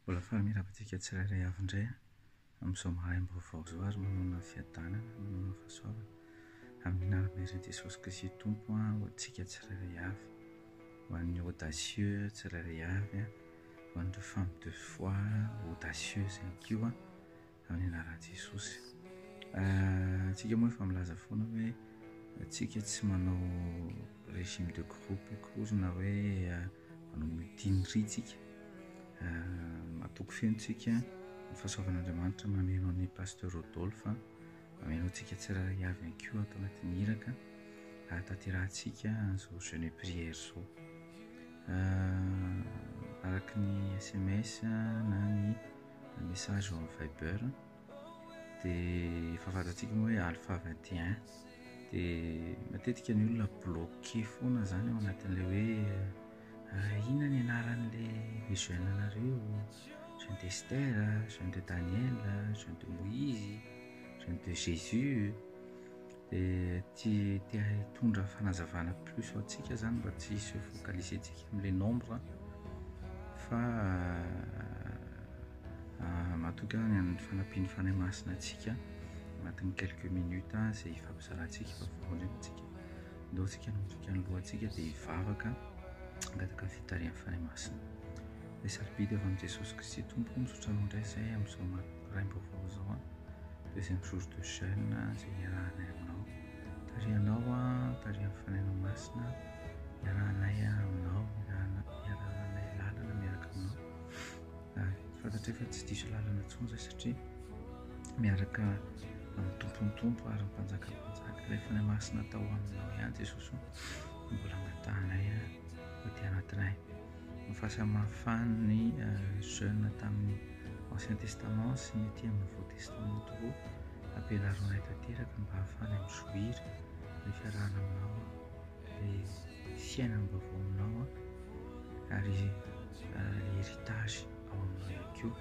Mbola faly miarahaba antsika tsirairay avy indray amin'izao maraim-baovao izao ary manana fiadanana, manana fahasoavana amin'ny anaran'ny Reny Jesosy Kristy Tompo ho antsika tsirairay avy, ho an'ny audacieux tsirairay avy, ho an'ireo femmes de foi audacieuses ihany koa. Amin'ny anaran'i Jesosy. Antsika moa efa milaza foana hoe antsika tsy manao régime de groupe akory na hoe manao mutinerie tsika. Matoky feno tsika ny fahasoavan'Andriamanitra mameno an'i Pasteur Rodolphe, mameno antsika tsirairay avy ihany koa ato anatin'ny iraka hahatanterahantsika an'izao jeûne prière izao. Araka ny sms na ny message ao amin'ny viber dia efa fantatsika moa hoe alpha 21 dia matetika ny olona bloqué foana zany ao anatin'ilay hoe ah, inona ny anaran'ilay jeune anareo jeune de Esther jeune de Daniel jeune de Moïse jeune de Jésus dia tsy te hitondra fanazavana plus ho antsika zany mba tsy se focaliser tsika amle nombre fa euh, matoky any amin'ny fanampian'ny fanahy masina antsika agnatin'ny quelques minutes ah, zay ifampizarantsika fa voalohany antsika ndao tsika natoky any lohantsika dia hivavaka angataka fitarihan'ny fanahy masina le sarobidy avy amin'i jesosy kristy tompo misaotra anao indray zay amin'izao Raim-baovao izao an! Deuxième jour de jeune izay iarahanay aminao. Tarihanao an, tarihan'ny Fanahinao Masina, iarahanay aminao, iarahanay lalana miaraka aminao. Ary fantatray fa tsy diso lalana intsony izay satria miaraka amin'ny Tompon'ny Tompo ary ny Mpanjakan'ny Mpanjaka, ilay Fanahy Masina tao aminao ihany Jesosy o, no mbola angatahanay an, ho aty anatinay. Ny fahasamihafan' ny Jeune tamin' ny Ancien Testament sy ny aty amin' ny Nouveau Testament tokoa ampianaro anay tanteraka mba hahafahana mizoira ny fiarahana aminao ny fiainana baovao aminao ary heritage ao aminao ihany koa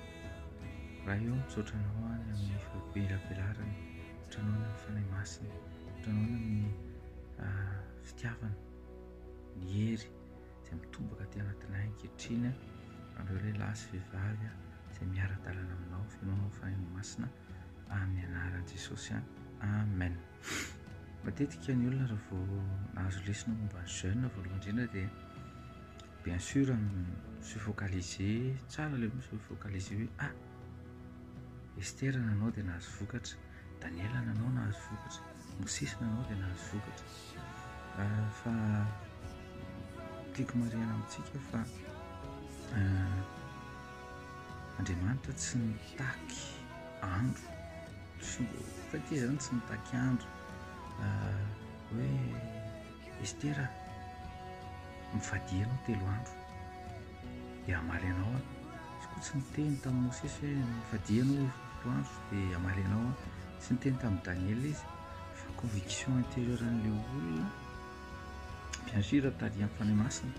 Ray ô misaotra anao aho ny amin' ny fahabelarbelarana misaotra anao ny amin' ny Fanahy Masina misaotra anao ny amin' ny fitiavana ny hery izay mitomboka aty anatinay ankehitriny anareo lehilahy sy vehivavy izay miara-dalana aminao fenoinao ny fanahin'ny masina amin'ny anaran'i Jesosy amen matetika ny olona raha vao nahazo lesona momba ny jeune voalohany indrindra dia bien sûr se focaliser tsara le se focaliser hoe ah Esther nanao dia nahazo vokatra Daniel nanao nahazo vokatra Mosesy nanao dia nahazo vokatra. Ah, fa tiako marihana amintsika fa ah, Andriamanitra tsy nitaky andro fa ity zany tsy nitaky andro ah, hoe estera mifady ianao telo andro dia amaly anao aho izy koa tsy niteny tamin'ny mosesy hoe mifady ianao telo andro dia amaly anao aho Tsy niteny tamin'i Daniela izy fa conviction intérieure an'ilay olona, bien sûr tarihan'ny Fanahy Masina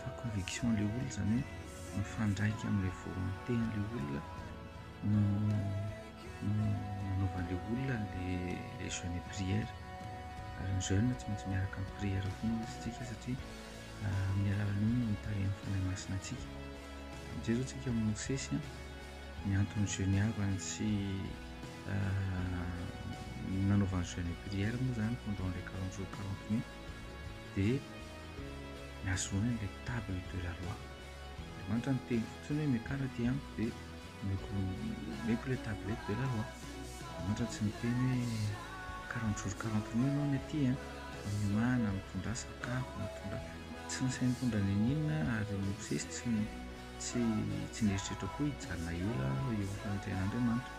fa conviction an'ilay olona izany hoe mifandraika amin'ilay volonté an'ilay olona no no nanaovan'ilay olona an'ilay le jeûne et prière. Ary ny jeûne tsy maintsy miaraka amin'ny prière koa ny isika satria amin'ny alalan'iny no tarihan'ny Fanahy Masina antsika. Mijery atsika amin'i Mosesy a. ny antony geniavany sy nanaovany jeune et prière moa zany pendant les quarante jours quarante nuits dia nahazoany ilay table de la loi Andriamanitra niteny fotsiny hoe miakara aty amiko dia omeko omeko ilay table de la loi Andriamanitra tsy niteny hoe quarante jours quarante nuits ianao ny aty an miomana mitondrà sakafo mitondrà tsy nasainy nitondra n'inon'inona ary Mosesy tsy Tsy tsy nieritreritra koa hijanona ela aho eo anatrehan'Andriamanitra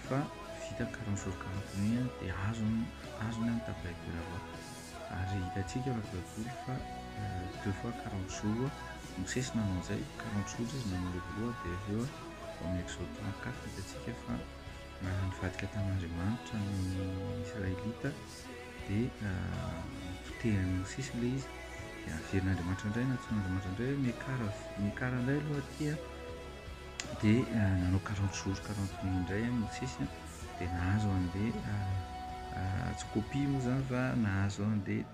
fa vita carence organe iny an dia azony azony an ny tablette de la voix ary hitantsika anaty baiboly fa deux fois quarante jours Mosesy nanao an'izay quarante jours izy nanao ilay voalohany dia avy eo ao amin'ny exode trente quatre hitantsika fa nivadika tamin'Andriamanitra ny Israelita dia potehiny sisa ilay izy dia averin'Andriamanitra indray na antsoin'Andriamanitra indray hoe mekara mekara indray aloha aty a dia eh, nanao quarante jours quarante nuit indray a Mosesy a dia nahazo an'ilay eh, eh, tsy copie moa zany fa nahazo an'ilay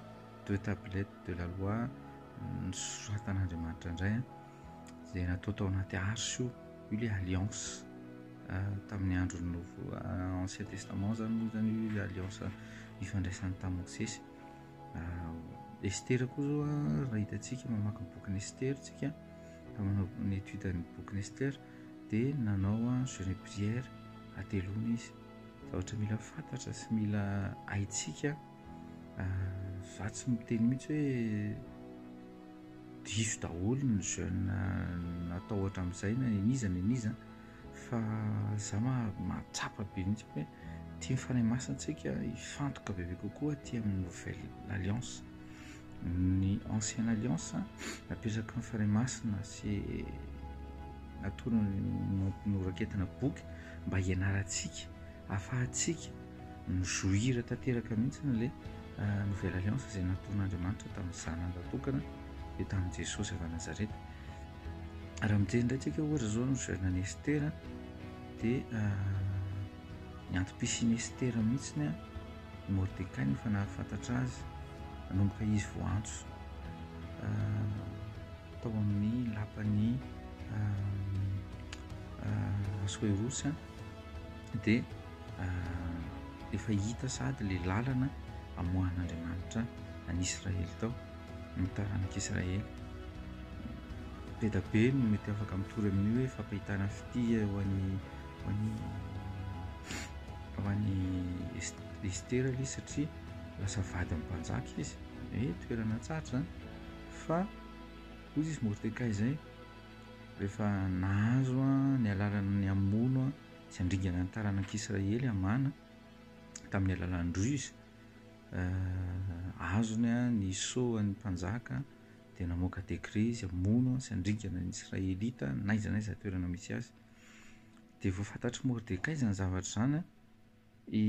deux tablettes de la loi mm, nosoratan'Andriamanitra indray a izay natao tao anaty arche io io le alliance tamin'ny andro nouveau ancien testament zany moa zany io le alliance ifandraisany tamin'i mosesy estera koa zao a raha hitantsika mamaky ny bokin'i estera tsika ka manao ny étude ny bokin'i estera dia nanao a jeune et prière ateloana izy zavatra mila fantatra sy mila haintsika Za tsy miteny mihitsy hoe diso daholo ny jeune natao hatramin'izay na nen'iza nen'iza fa za mahatsapa be mihitsy hoe tian'ny Fanahy Masina antsika hifantoka bebe kokoa aty amin'ny nouvelle alliance. Ny ancienne alliance napetraky ny Fanahy Masina sy natolony noraketina boky mba hianarantsika, ahafahantsika mi-jouir tanteraka mihitsy an'ilay nouvelle alliance izay nataon'Andriamanitra tamin'ny Zanany Vatokana, dia tamin'i Jesosy avy any Nazareta. Raha mijery indray tsika ohatra izao ny jeune an'i Esther, dia ny antom-pisian'i Esther mihitsy ny Mordecai no efa nahafantatra azy, nanomboka izy vao antso tao amin'ny lapan'ny Asoerosy, dia efa hita sahady ilay lalana amoahan'Andriamanitra an'i Israely tao, ny taranak'i Israely. Bedabe no mety afaka mitory amin'ny hoe fampahitana fitia ho an'i ho an'i ho an'i Estera ilay izy satria lasa vadin'ny mpanjaka izy, hoe toerana tsarotra izany fa hoy izy Mordekay izay rehefa nahazo ny alalana ny hamono tsy handringana ny taranak'Israely hamana tamin'ny alalan'ny ruse, azony ny soan'ny mpanjaka dia namoaka décret izy hamono sy handringana ny Israelita n'aiza n'aiza toerana misy azy. Dia vao fantatr'i Mordekay izany zavatra izany, i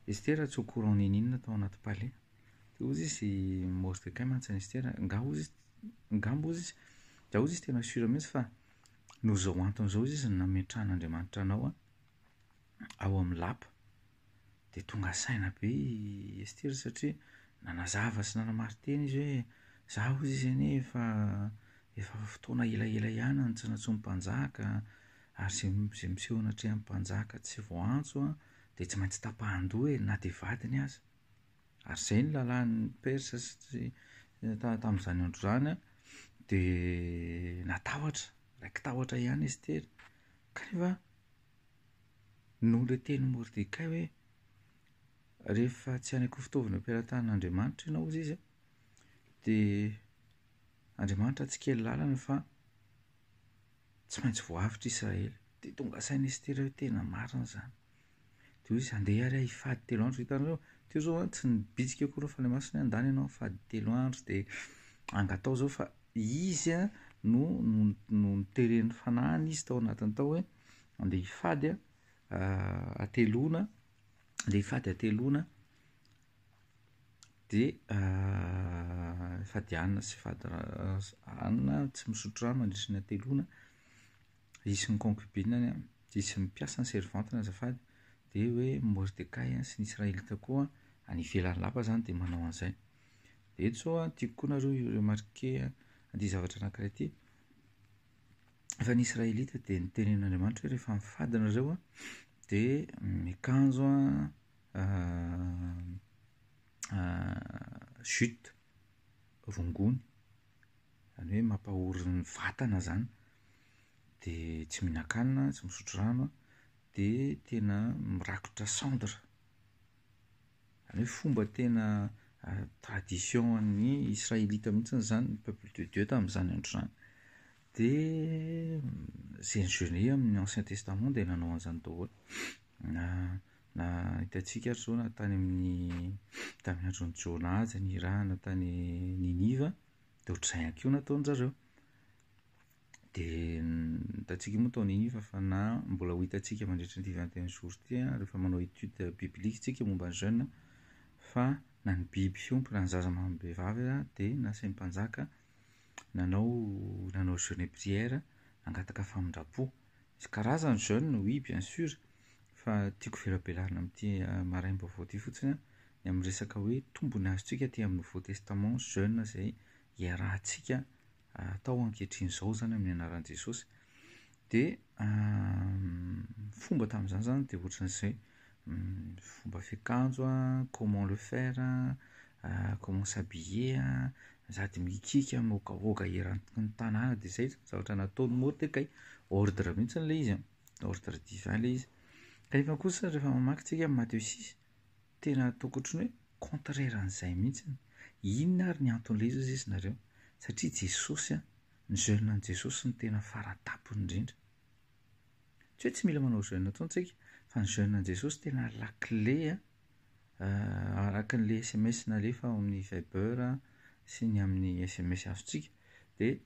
Estera tsy au courant n'inon'inona tao anaty palais. Dia hozy izy Mordekay mantsy an'i Estera, angaha hozy izy, angamba hozy izy, dia hozy izy tena sûr mihitsy fa Noho izao antony izao izy no nametrahan'Andriamanitra anao ao amin'ny lapa. Dia tonga saina be i Estera satria nanazava sy nanamari-tena izy hoe, Izaho hozy izy anie efa efa fotoana elaela ihany no tsy nantsoin'ny mpanjaka, ary izay izay miseho anatrehan'ny mpanjaka tsy voaantso an, dia tsy maintsy tapahan-doha e, na dia vadiny aza. Ary izay ny lalàn'ny Persa sy tamin'izany andro izany an, dia natahotra, raiki-tahotra ihany Estera, kanefa noho ilay tenin'i Mordekay hoe, Rehefa tsy hanaiky ho fitaovan'ny am-pelatanan'Andriamanitra ianao, hoy izy an, dia Andriamanitra hatsikely lalana fa tsy maintsy voahavotr'i Israely. Dia tonga saina Estera hoe tena marina izany. Dia hoe izy handeha ary aho hifady telo andro. Hitanareo? Teo izao an, tsy nibitsika akory ny Fanahy Masina hoe handany ianao hifady telo andro dia angataho izao fa izy no no noteren'ny Fanahiny izy tao anatiny tao hoe handeha hifady hateloana, handeha hifady hateloana dia hifady hanina sy hifady hanina tsy misotro rano mandritra ny hateloana. Hisy ny concubine-ny an, dia hisy ny mpiasany, servante-ny azafady, dia hoe Mordekay sy ny Israelita koa any ivelan'ny lapa izany dia manao an'izay. Dia eto izao an, tiako koa nareo hi-remarquer an'ity zavatra anankiray ity, fa ny Israelita dia notenenin'Andriamanitra hoe rehefa mifady nareo an, dia miakanjo an jute, rongony, zany hoe mampahory ny vatana zany, de tsy mihinan-kanina, tsy misotro rano an, de tena mirakitra cendre, zany hoe fomba tena tradition an'ny Israelita mihitsy zany ny peuple de Dieu tamin'izany andro izany, de zay nijeune amin'ny ancien testament dia nanao an'izany daholo. Na hitantsika ary izao na tany amin'ny tamin'ny andron'i Jona aza nirahana tany Niniva dia ohatr'izay ihany koa nataon-dry zareo. Dia hitantsika moa tao Niniva fa na mbola ho hitantsika mandritra ity vingt et un jours ity an, rehefa manao étude biblique isika momba ny jeûne fa na ny biby fiompy na ny zaza amam-behivavy aza dia nasain'ny mpanjaka nanao nanao jeûne et prière nangataka famindram-po. Misy karazany jeune oui bien sur fa tiako velabelahana amin'ity maraim-baovao ity fotsiny an, ny amin'ny resaka hoe tombony azontsika aty amin'ny nouveau testament jeune izay iarahantsika atao ankehitriny izao izany amin'ny anaran'i Jesosy dia fomba tamin'izany izany dia ohatran'izay Fomba fiakanjo an, comment le faire an, comment s'habiller an, sady mikiky mihogahoga eran'ny ny tanàna dia izay zany zavatra nataon'i Mordekay, ordre mihitsy ilay izy an, ordre divin ilay izy. Kanefa kosa rehefa mamaky tsika an'i Matthieu six, tena ataoko ohatra ny hoe contraire an'izay mihitsy, inona ary ny anton'ilay izy hozy izy nareo, satria Jesosy an, ny jeune an'i Jesosy no tena fara tampony indrindra. Tsy hoe tsy mila manao jeûne intsony tsika, fa ny jeûne an'i Jesosy tena lakile araka an'ilay sms nalefa ao amin'ny viber sy ny amin'ny sms azontsika. Dia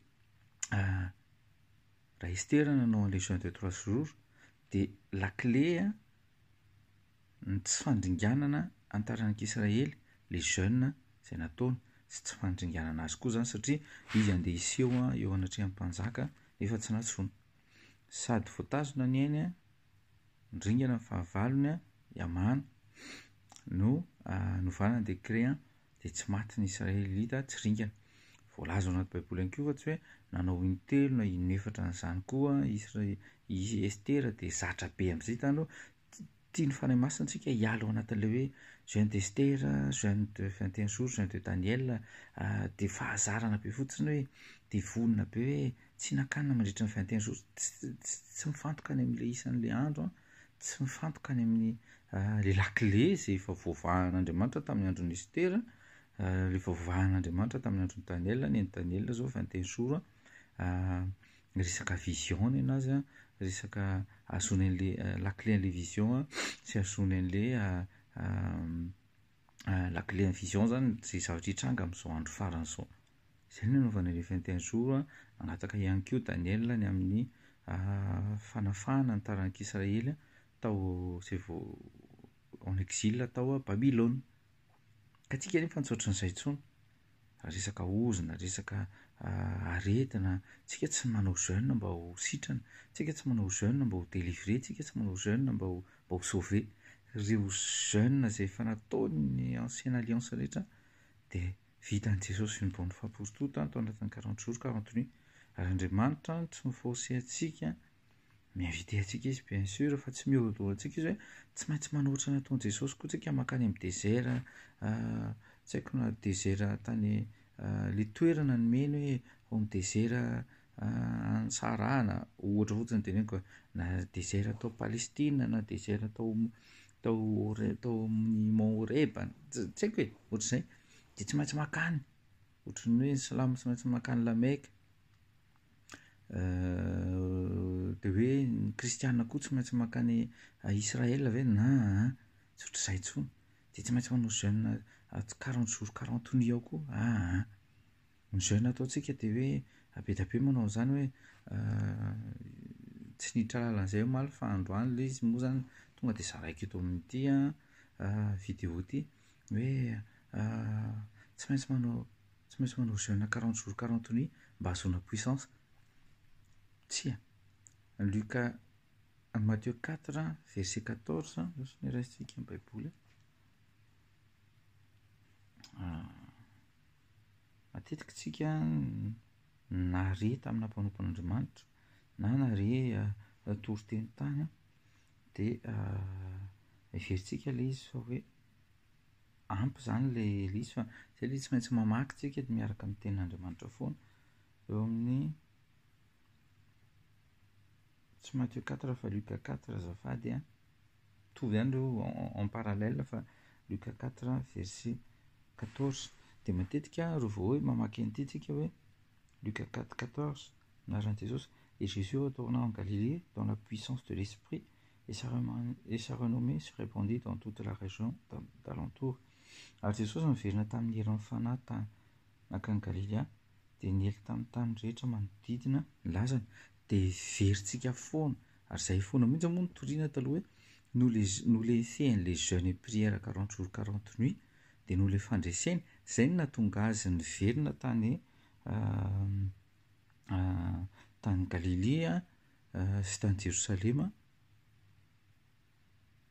raha Esther no nanao an'ilay jeûne de trois jours dia lakile ny tsy fandringanana ny taranak'i Israely ilay jeûne izay nataony, sy tsy fandringanana azy koa izany satria izy handeha hiseho eo anatrehan'ny mpanjaka nefa tsy nantsoina. Sady voatazona ny ainy an, niringana ny fahavalony an, i Hamana, no novana ny décret an, dia tsy maty ny Israelita, tsy ringana. Voalaza ao anaty Baiboly ihany koa fa tsy hoe nanao intelo na inefatra an'izany koa an, i Esthera dia zatra be amin'izay tany aloha, Tian'ny Fanahy Masina antsika hiala ao anatin'ilay hoe jeûne d'Estera, jeûne de vingt et un jours, jeûne de Daniel, dia fahazarana be fotsiny hoe dia vonona be hoe tsy hihinan-kanina mandritra ny vingt et un jours, tsy mifantoka any amin'ilay isan'ilay andro an, tsy mifantoka any amin'ny le lakile izay efa voavahan'Andriamanitra tamin'ny andron'i Estera, efa voavahan'Andriamanitra tamin'ny andron'i Daniel, ny an'i Daniel izao vingt et un jours an, resaka vision ny anazy an, resaka ahazoany an'ilay lakile an'ilay vision an, sy ahazoany an'ilay lakile ny vision zany izay zavatra hitranga amin'izao andro farany izao. Izay no nanaovana an'ilay vingt et un jours an, nangataka ihany koa Daniela ny amin'ny fanafahana ny taranak'i Israely tao izay vao en exil tao Babylona. Ka antsika anefa tsy ohatran'izay intsony, raha resaka ozona, resaka aretina, tsika tsy manao jeûne mba ho sitrana, tsika tsy manao jeûne mba ho délivrer, tsika tsy manao jeûne mba ho mba ho sauver. Ireo jeûne izay efa nataon'ny ancienne alliance rehetra dia vitan'i Jesosy une bonne fois pour toute tao anatin'ny quarante jours ka antony hoe Andriamanitra tsy mi-forcer antsika Mi-inviter antsika Izy bien sûr fa tsy mihorodoro antsika Izy hoe tsy maintsy manohitra ny nataon'i Jesosy koa tsika mankany amin'ny desert tsy haiko na desert tany le toerana nomeny hoe ao amin'ny desert any Sahara na ohatra fotsiny no teneniko e, na desert tao Palestina na desert tao tao Hore- tao amin'ny mont Horeba ts- tsy haiko e, ohatr'izay dia tsy maintsy mankany, ohatran'ny hoe ny silamo tsy maintsy mankany La Mecque. Dia hoe ny kristiana koa tsy maintsy mankany à Israël ve? An an, tsy ohatr'izay intsony, dia tsy maintsy manao jeune quarante jours quarante nuits ao koa an an. Ny jeune ataontsika dia hoe be dia be manao an'izany hoe tsy niditra lalana izay omaly fa androany ilay izy moa izany tonga dia zaraiko eto amin'ity an video ity hoe tsy maintsy manao. Tsy maintsy manao jeune quarante jours quarante nuits mba hahazoana puissance. Tsia. Luc, Matthieu quatre verset quatorze izao sisa no raisintsika ny Baiboly a. Matetika isika nare tamina mpanompon'Andriamanitra na nare natory teny tany dia heverintsika ilay izy fa hoe. ampy izany ilay lisy fa izay ilay tsy maintsy mamaky isika dia miaraka amin'ny tenin'Andriamanitra foana. Eo amin'ny tsy Matthieu 4 fa Luc 4 azafady a. Mitovy ihany ireo en parallèle fa Luc 4 verset 14. Dia matetika ireo vao hoe mamaky an'ity isika hoe Luc 4 14 anaran'i Jesosy. Et Jésus retourna en Galilée dans la puissance de l'Esprit Et sa renommée se répandit dans toute la région d'alentour. Ary Jesosy niverina tamin'ny herin'ny Fanahy tany nankany Galilea, dia niely tamin'ny tany rehetra manodidina ny lazany. Dia heverintsika foana, ary izay foana mihitsy moa no toriana taloha hoe, noho ilay, noho ilay fehiny-ilay jeune et prière quarante jours quarante nuits, dia noho ilay fandreseny, izay no nahatonga Azy niverina tany tany Galilea, sy tany Jerosalema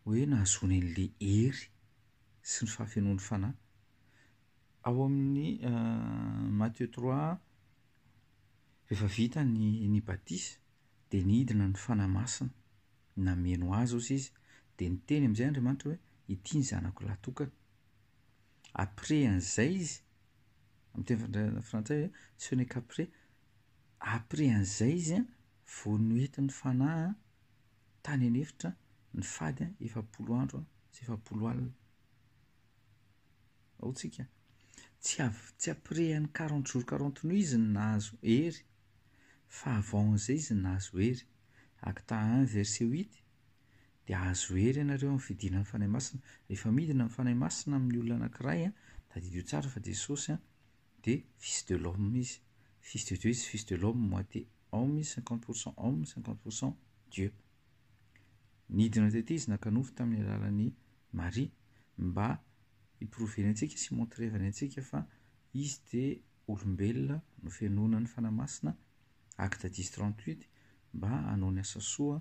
hoe nahazoany an'ilay hery sy ny fahafenoan'ny Fanahy. Ao amin'ny uh, Matthieu 3, rehefa vita ny, ny batisa, dia nidina ny Fanahy Masina, nameno azy ozy izy, dia niteny amin'izay Andriamanitra hoe, ity ny zanako lahy tokana. Après an'izay izy, amin'ny teny frantsay hoe, ce n'est qu'après, Après an'izay izy vao noentin'ny fanahy tany an'efitra ny fady efapolo andro sy efapolo alina. Ao tsika. Tsy av- tsy après an'i quarante jours quarante nuits izy no nahazo hery fa avant an'izay izy no nahazo hery. Acte un verset huit, dia hahazo hery ianareo amin'ny fidinana ny Fanahy Masina. Rehefa midina ny Fanahy Masina amin'ny olona anankiray, tadidio tsara fa Jesosy dia fils de l'homme izy, fils de Dieu izy sy fils de l'homme, moitié homme izy, cinquante pour cent homme, cinquante pour cent Dieu. Nidina tety izy naka nofo tamin'ny alalan'i Maria mba hi-prouver-ny antsika sy hi-montrer-ny antsika fa izy dia olombelona nofenoina ny Fanahy Masina, Acte dix trente huit, mba hanao ny asa soa,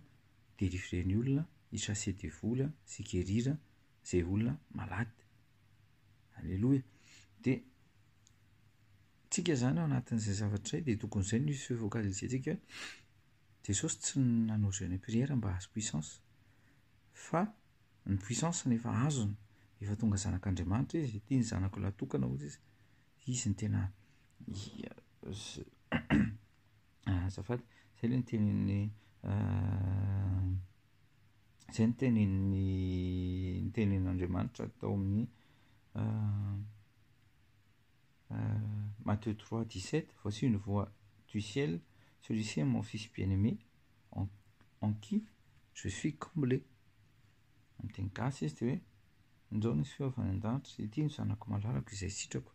hi-délivrer ny olona, hi-chasser devoly sy hi-guérir izay olona malade. Aleloia. Dia tsika izany ao anatin'izay zavatra izay dia tokony izay no hi- focaliser-tsika hoe Jesosy tsy nanao jeûne et prière mba hahazo puissance fa ny puissance no efa azony, efa tonga zanak'Andriamanitra izy, ity ny zanako lahy tokana hoy Jesosy, izy no tena azafady, izay ilay ny tenin'ny Izay ny tenin'ny ny tenin'Andriamanitra tao amin'ny Matthieu trois dix sept, voici une voix du ciel, celui-ci est mon fils bien-aimé, en, en qui je suis comblé. Amin'ny teny gasy izy dia hoe injao nisy feo avy any an-danitra, ity no zanako malalako izay sitrako.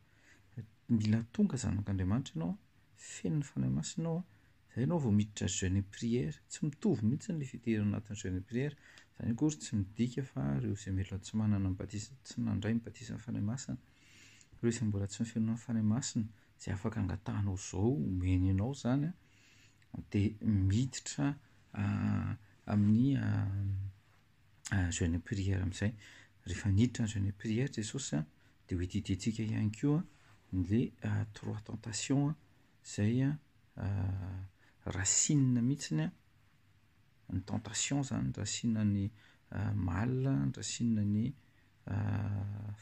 Mila tonga zanak'Andriamanitra ianao, feno ny Fanahy Masina ao an. Izay ianao vao miditra jeune et prière. Tsy mitovy mihitsy ilay fidirana anatin'ny jeune et prière. Izany akory tsy midika fa ireo izay mila tsy manana ny batisa, tsy nandray ny batisan'ny Fanahy Masina. Ireo izay mbola tsy nifenoina amin'ny Fanahy Masina, izay afaka angatahanao izao, omeny anao izany, dia miditra amin'ny jeune et prière amin'izay. Rehefa niditra ny jeune et prière Jesosy dia ho edidiantsika ihany koa ilay trois tentations. Izay an, rasinina mihitsiny an, ny tentation izany, rasinina ny mal, rasinina ny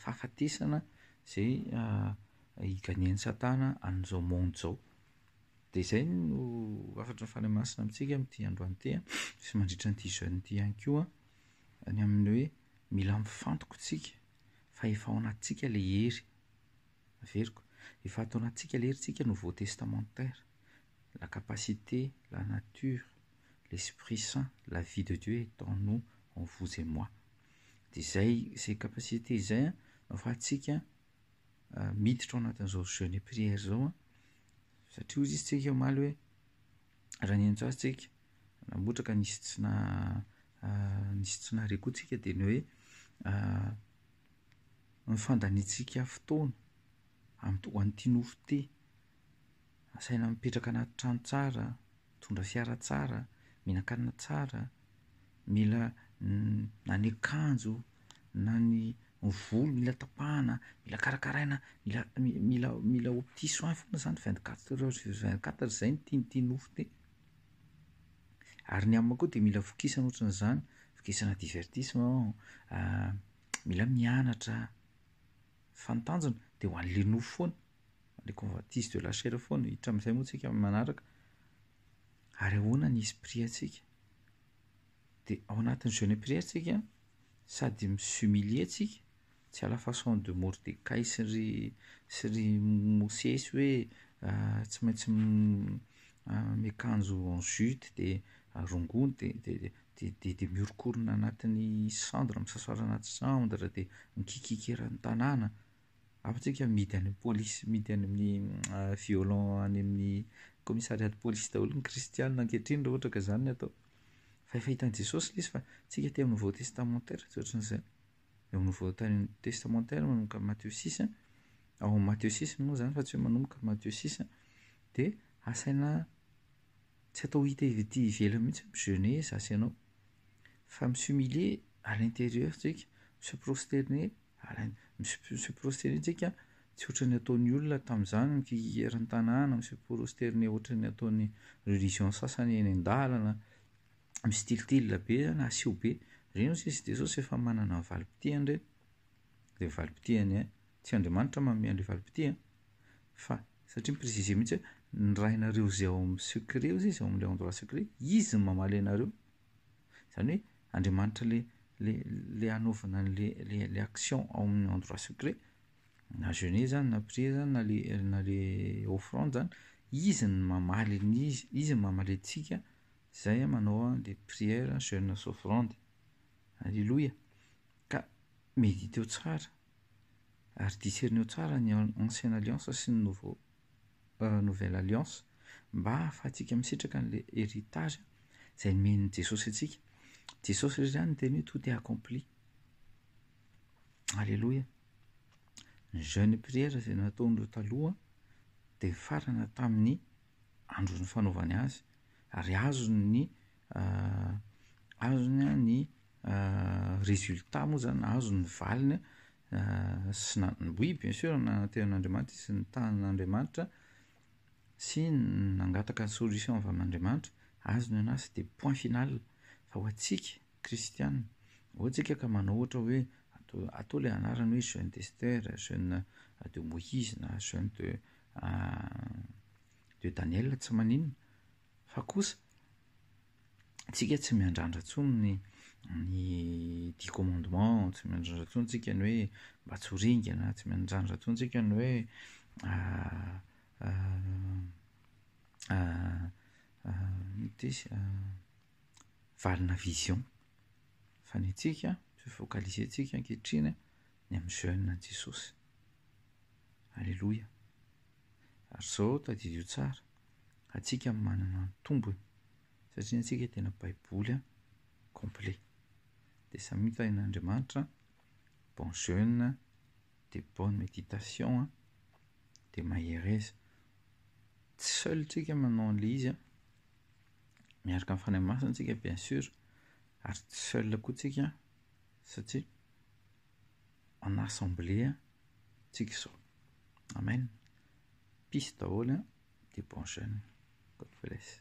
fahafatesana izay hi-gagner-n'i Satana an'izao monde izao. Dia izay no hafatry ny Fanahy Masina amintsika amin'ity androany ity an, sy mandritra an'ity jeûne ity ihany koa, ny amin'ny hoe mila mifantoka isika fa efa ao anatintsika ilay hery. Averiko. Efa ataonantsika lery tsika nouveau testamentaire. La capacité, la nature, l'esprit saint, la vie de Dieu est en nous, en vous et moi. Dia izay izay capacité izay an, no afahantsika miditra ao anatin'izao jeune et prière izao an, satria hoy izy tsika omaly hoe raha niantso azy tsika namoatra ka nisy tsy na nisy tsy nahare koa tsika dia ny hoe ny fandaniantsika fotoana amin'ny ho an'ity nofo ity. Asaina mipetraka anaty trano tsara, mitondra fiara tsara, mihinan-kanina tsara, mila na ny akanjo na ny volo mila tapahana, mila karakaraina, mila mi- mila mila opti soin foana zany vingt quatre heures sur vingt quatre zay no tian'ity nofo ity. Ary ny amiko koa dia mila vokisana ohatrany izany, vokisana divertissement an, a mila mianatra a, fa ny tanjona dia ho an'le nofo foana, le convoitise de la chair foana, hiditra amin'izay moa tsika amin'ny manaraka, ary ahoana ny esprit antsika? Dia ao anatin'ny jeune et prière tsika sady mi-s'humilier tsika Tsy à la façon de Mordecai sy ry sy ry Mosesy hoe tsy maintsy miakanjo en jute dia rongony dia dia dia dia dia mihoronkorona anatin'ny cendre misasara anaty cendre dia mikiakiaka eran'ny tanàna, hafa tsika mihidy any amin'ny polisy mihidy any amin'ny violent any amin'ny commissariat de police daholo ny kristianina ankehitriny raha ohatra ka zany ny atao, fa efa hitan'i Jesosy le izy fa tsika aty amin'ny vaoho testamentaire tsy ohatran'izay. eo amin'ny voalohan'ny testamantera manomboka amin'ny Mateo six a, ao amin'ny Mateo six moa izany fa tsy hoe manomboka amin'ny Mateo six a, dia asaina tsy atao hita iv- ety ivelany mihitsy ny jeunesse asianao fa mi s'humilier à l'intérieur tsika, mi se prosterner à l'in- mi se mi se prosterner tsika tsy ohatran'ny ataon'ny olona tamin'izany ny figehran'ny tanàna, mi se prosterner ohatran'ny ataon'ny religion sasany eny an-dalana, misitilitily be na asio be ireny hozy izy Jesosy efa manana ny valim-pitihany ireny dia valim-pitihany ihany tsy Andriamanitra manome an'ilay valim-pitia fa satria mi-preciser mihintsy hoe ny Rainareo izay ao amin'ny secret hozy izy ao amin'ilay endroit secret izy no mamaly anareo izany hoe Andriamanitra ilay ilay ilay hanaovana an'ilay ilay ilay action ao amin'ny endroit secret na jeûne izany na prier izany na ilay na ilay offrande izany izy no mamaly ny izy izy no mamale antsika Izay an manao an les prières jeunes offrandes. Alléluia. Ka mediteo tsara ary discerneo tsara ny ancienne alliance sy ny nouveau nouvelle alliance mba ahafahantsika misitraka an'ilay héritage izay nomen'i Jesosy antsika. Jesosy irery ihany no niteny hoe tout est accompli. Alléluia. Ny jeune prières izay nataon'ireo taloha dia nifarana tamin'ny andron'ny fanaovany azy ary azony ny azony ny résultat moa zany azony ny valiny sy na oui bien sûr nanatehan'Andriamanitra izy nitanin'Andriamanitra sy nangataka ny solution avy amin'Andriamanitra azony anazy sy de point final fa ho antsika kristianina moa tsika ka manao ohatra hoe atao le anarany hoe jeune d'Esther jeune de Moïse na jeune de Dia Daniel tsy maninona fa kosa tsika tsy miandrandra tsony ny ny dix commandement tsy miandrandra tsony tsika ny hoe mba tsy ho ringana tsy miandrandra tsony tsika ny hoe ah, ah, ah, ah, valina vision fa ny antsika tsy focaliser antsika ankehitriny ny amin'ny jeune an'i Jesosy. Alléluia. Ary izao tadidio tsara, antsika manana ny tombony satria antsika tena baiboly complet. Dia samy hita en Andriamanitra, bon jeune, de bonne méditation, de mahereza. Tsy seul tsika manao an'ilay izy, miaraka amin'ny Fanahy Masina tsika bien sûr, ary tsy seul koa tsika satria an'assemblée tsika izao. Amen. Piste daholo an, dia bon jeune. God bless.